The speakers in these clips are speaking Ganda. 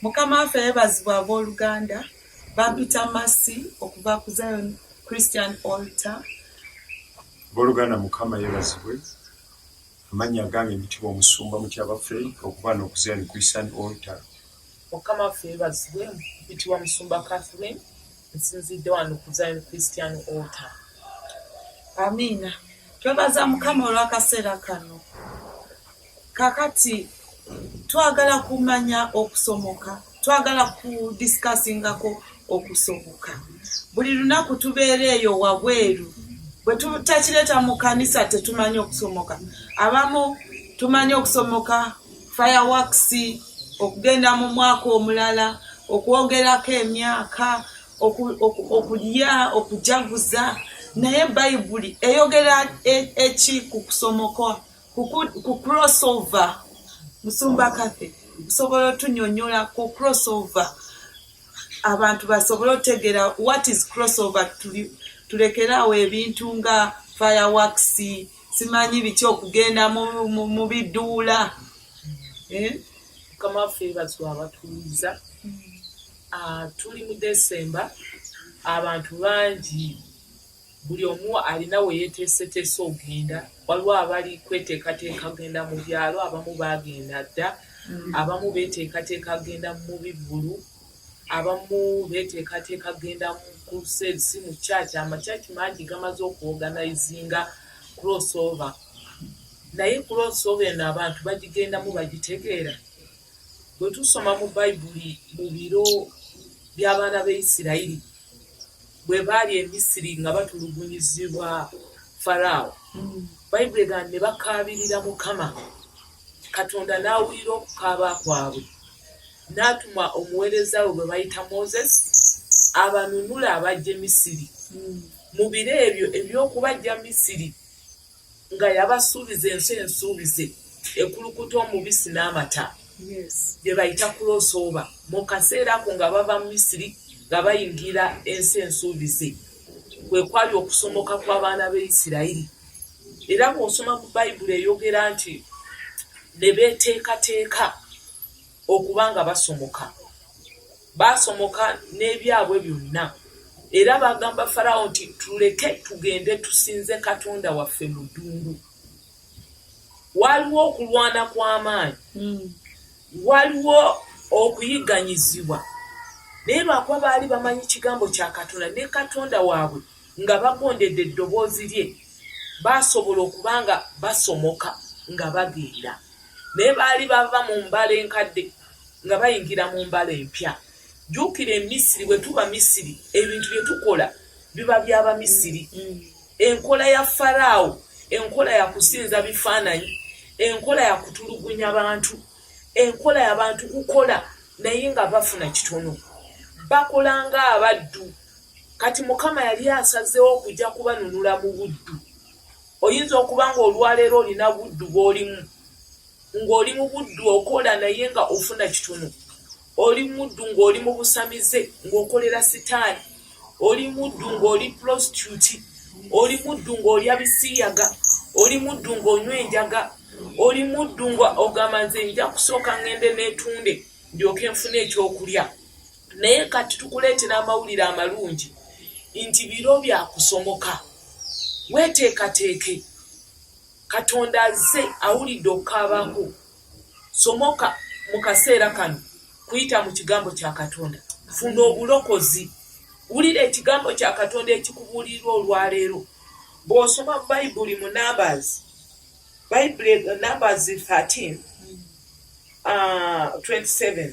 Mukama waffe yebazibwa ab'oluganda bampita masi okuva ku zion christian alter boluganda mukama yebazibwe amannya agange mitibwa omusumba mutya baffe okuba no ku zion christian alter mukama waffe yebazibwe mitibwa musumba catherine nsinzidde wano ku zion christian alter amiina twebaza mukama olw'akaseera kano kakati twagala kumanya okusomoka twagala ku discussingako okusomoka buli lunaku tubeera eyo wabweru bwetutakireta mu kanisa tetumanyi okusomoka abamu tumanyi okusomoka fireworks okugenda mu mwaka omulala okwogerako emyaka okulya okujaguza naye bayibuli eyogera e, eki ku kusomoka ku cross over musumba kafe osobola otunyonyola ku cross over abantu basobole otegera what is cross over tulekeraawo ebintu nga fireworks simanyi biki okugenda mu biduula eh? mukama waffe ebazwa abatuuliza ah, tuli mu desemba abantu bangi Buli omu alina we yeeteeseteese ogenda. Waliwo abali kweteekateeka kugenda mu byalo, abamu baagenda dda, abamu beeteekateeka kugenda mu bivvulu, abamu beeteekateeka kugenda mu crusade si mu church. Amachurch mangi gamaze okuorganizinga cross over. Naye cross over eno abantu bagigendamu bagitegeera? Bwe tusoma mu Bayibuli mu biro by'abaana ba Isirayiri, bwe baali e Misiri nga batulugunyizibwa Faraawo, Bayibuli egamba nti ne bakaabirira Mukama, Katonda n'awulira okukaaba kwabwe, n'atuma omuweereza we gwe bayita Moses abanunule abaggye Misiri. Mu biro ebyo eby'okubaggya Misiri, nga yabasuubiza ensi ensuubize ekulukuta omubisi n'amata bye bayita kulosooba mu kaseera ako nga bava mu misiri nga bayingira ensi ensuubize kwe kwali okusomoka kw'abaana b'e isirayiri era bw'osoma mu bayibuli eyogera nti ne beeteekateeka okuba nga basomoka Baasomoka n'ebyabwe byonna, era baagamba Faraawo nti, Tuleke tugende tusinze Katonda waffe mu ddungu. Waaliwo okulwana kw'amaanyi, hmm. waliwo okuyigganyizibwa, naye lwakuba baali bamanyi kigambo kya Katonda ne Katonda waabwe nga bagondedde eddoboozi lye, baasobola okuba nga basomoka nga bagenda. naye baali bava mu mbala enkadde nga bayingira mu mbala empya jjuukira emisiri bwe tuba misiri ebintu bye tukola biba by'abamisiri mm. enkola ya faraawo enkola ya kusinza bifaananyi enkola ya kutulugunya bantu enkola y'abantu kukola naye nga bafuna kitono bakola ng'abaddu kati mukama yali asazeewo okujja kubanunula mu buddu Oyinza okuba ng'olwaleero olina buddu bw'olimu, ng'oli mu buddu okola naye nga ofuna kitono. Oli muddu ng'oli mu busamize ng'okolera sitaani. Oli muddu ng'oli pulosituti. Oli muddu ng'olya bisiiyaga. Oli muddu ng'onywa enjaga. Oli muddu ng'ogamba nze nja kusooka ng'ende neetunde ndyoke nfune ekyokulya. Naye kati tukuleetera amawulire amalungi nti biro bya kusomoka. Weeteekateeke. Katonda azze awulidde okukaaba kwo. Somoka mu kaseera kano kuyita mu Kigambo kya Katonda. Funa obulokozi. Wulira Ekigambo kya Katonda ekikubuulirirwa olwaleero. Bw'osoma Bayibuli mu Numbers, Bayibuli, Numbers 13, uh, 27,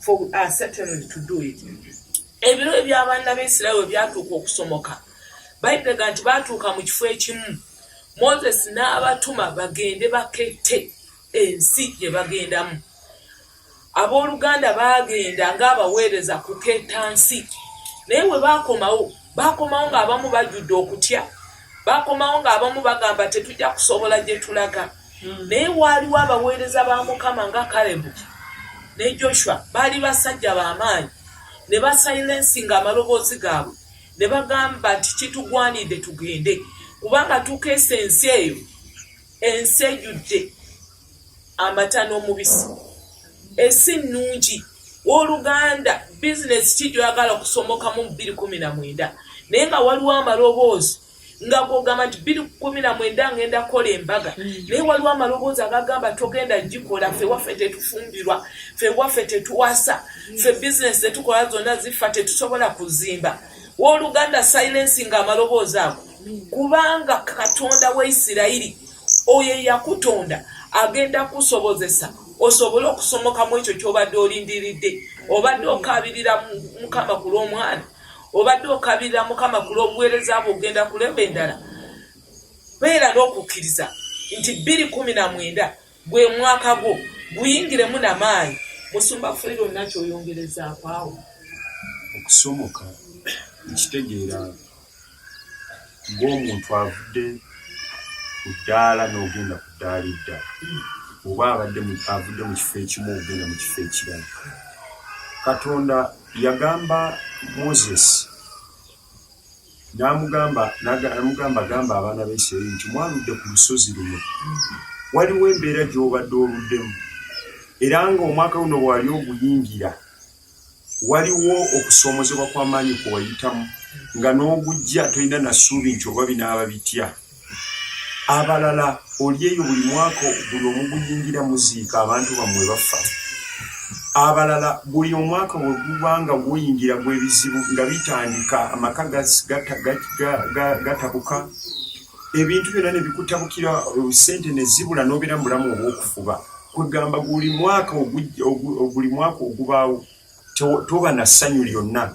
for we are certainly to do it ebiro ebyabaana baisirael ebyatuuka okusomoka baitega nti baatuuka mu kifo ekimu moses n'abatuma bagende bakette ensi gye bagendamu abooluganda baagenda ng'abaweereza kuketta nsi naye bwe baakomawo baakomawo ng'abamu bajjudde okutya baakomawo ng'abamu bagamba tetujja kusobola gye tulaga hmm. naye waaliwo abaweereza ba mukama nga kalebu ne joshua baali basajja b'amaanyi ne basilensi ng'amaloboozi gaabwe ne bagamba nti kitugwanidde tugende kubanga tukeesa ensi eyo ensi ejjudde amata n'omubisi ensi nnungi wooluganda bizinesi ki gyoyagala okusomokamu mu bbiri kumi na mwenda naye nga waliwo amaloboozi nga gwogamba nti bbiri kumi na mwenda ngenda kukola embaga mm. naye waliwo amaloboozi agagamba togenda gikola fe waffe tetufumbirwa fe waffe tetuwasa mm. fe bizinesi zetukola zonna zifa tetusobola kuzimba wooluganda silensi nga amaloboozi ago kubanga katonda wa isirayiri oyo eyakutonda agenda kusobozesa osobole okusomoka mu ekyo kyobadde olindiridde obadde okabirira mukama ku lw'omwana obadde okabirira mukama ku lw'obuweereza bwe ogenda kulemba endala beera n'okukkiriza nti bbiri kumi na mwenda Gwe mwaka gwo guyingiremu na maanyi. Musumba Fred olina kyoyongerezaako awo? Okusomoka nkitegeera ng'omuntu avudde ku ddaala n'ogenda ku ddaala eddala oba abadde avudde mu kifo ekimu ogenda mu kifo ekirala. Katonda yagamba Moses. n'amugamba n'amugamba gamba abaana ba Isirayiri nti mwaludde ku lusozi luno waliwo embeera gy'obadde oluddemu era ng'omwaka guno bwewali oguyingira waliwo okusomozebwa kw'amaanyi kwe wayitamu nga n'ogujja tolina na ssuubi nti oba binaaba bitya abalala olyeyo buli mwaka buli omuguyingira muziika abantu bamwe bafa abalala buli omwaka weguba nga guyingira gwebizibu nga bitandika amaka gatabuka ebintu byona nebikutabukira sente nezibula nobera mubulamu obwokufuba kwegamba buli mwaka oguli mwaka ogubaawo toba na ssanyu lyonna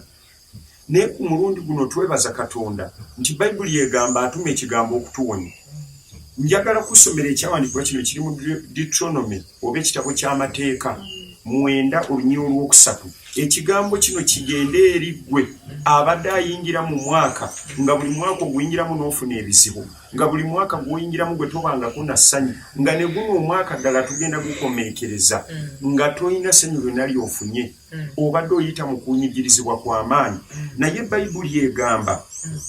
Naye ku mulundi guno twebaza Katonda nti Bayibuli egamba atuma ekigambo okutuwonya. Njagala kusomera ekyawandiikibwa kino kiri mu Deuteronomy oba ekitabo ky'amateeka mwenda olunyia olwokusatu. Ekigambo kino kigende eri ggwe abadde ayingira mu mwaka nga buli mwaka oguyingiramu n'ofuna ebizibu nga buli mwaka gwoyingiramu gwe tobangako na ssanyu nga ne guno omwaka ddala tugenda gukomeekereza mm. nga tolina ssanyu lwena lyofunye. mm. obadde oyita mu kunyigirizibwa kwa maanyi mm. naye bayibuli egamba mm.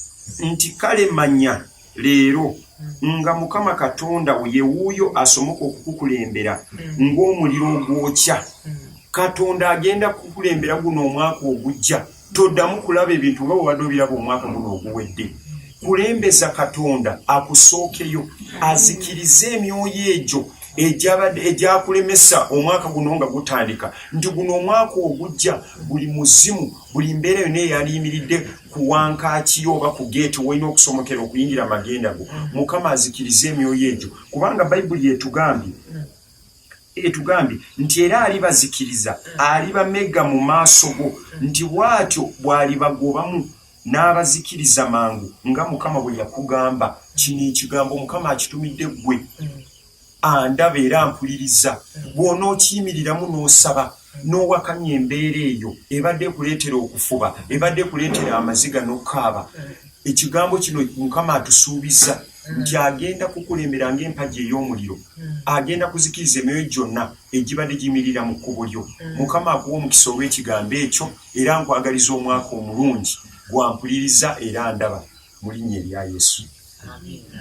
nti kale manya leero mm. nga mukama katonda wo yewuuyo asomoka okukukulembera mm. ng'omuliro ogwokya mm. katonda agenda kukulembera guno omwaka ogujja toddamu kulaba ebintu nga bwebadde obiraba omwaka guno oguwedde mm. kulembeza katonda akusookeyo azikirize emyoyo egyo egyakulemesa omwaka guno nga gutandika nti guno omwaka ogujja buli muzimu buli mbeera yona eyaliyimiridde ku wankakiyo oba ku geeti wolina okusomokera okuyingira amagenda go mukama azikirize emyoyo egyo kubanga bayibuli etugambye etugambye nti era alibazikiriza alibamega mu maaso go nti bwatyo bwalibagobamu n'abazikiriza mangu nga mukama bwe yakugamba kino ekigambo mukama akitumidde ggwe andaba era mpuliriza bw'onookiyimiriramu n'osaba n'owakanya embeera eyo ebadde ekuleetera okufuba ebadde ekuleetera amaziga n'okukaaba ekigambo kino mukama atusuubiza nti agenda kukulembera ng'empagi ey'omuliro agenda kuzikiriza emyoyo gyonna egibadde giyimirira mu kkubo lyo. Mm. Mukama akuwa omukisa olw'ekigambo ekyo era nkwagaliza omwaka omulungi gwampuliriza era ndaba mu linnya erya Yesu. Amiina.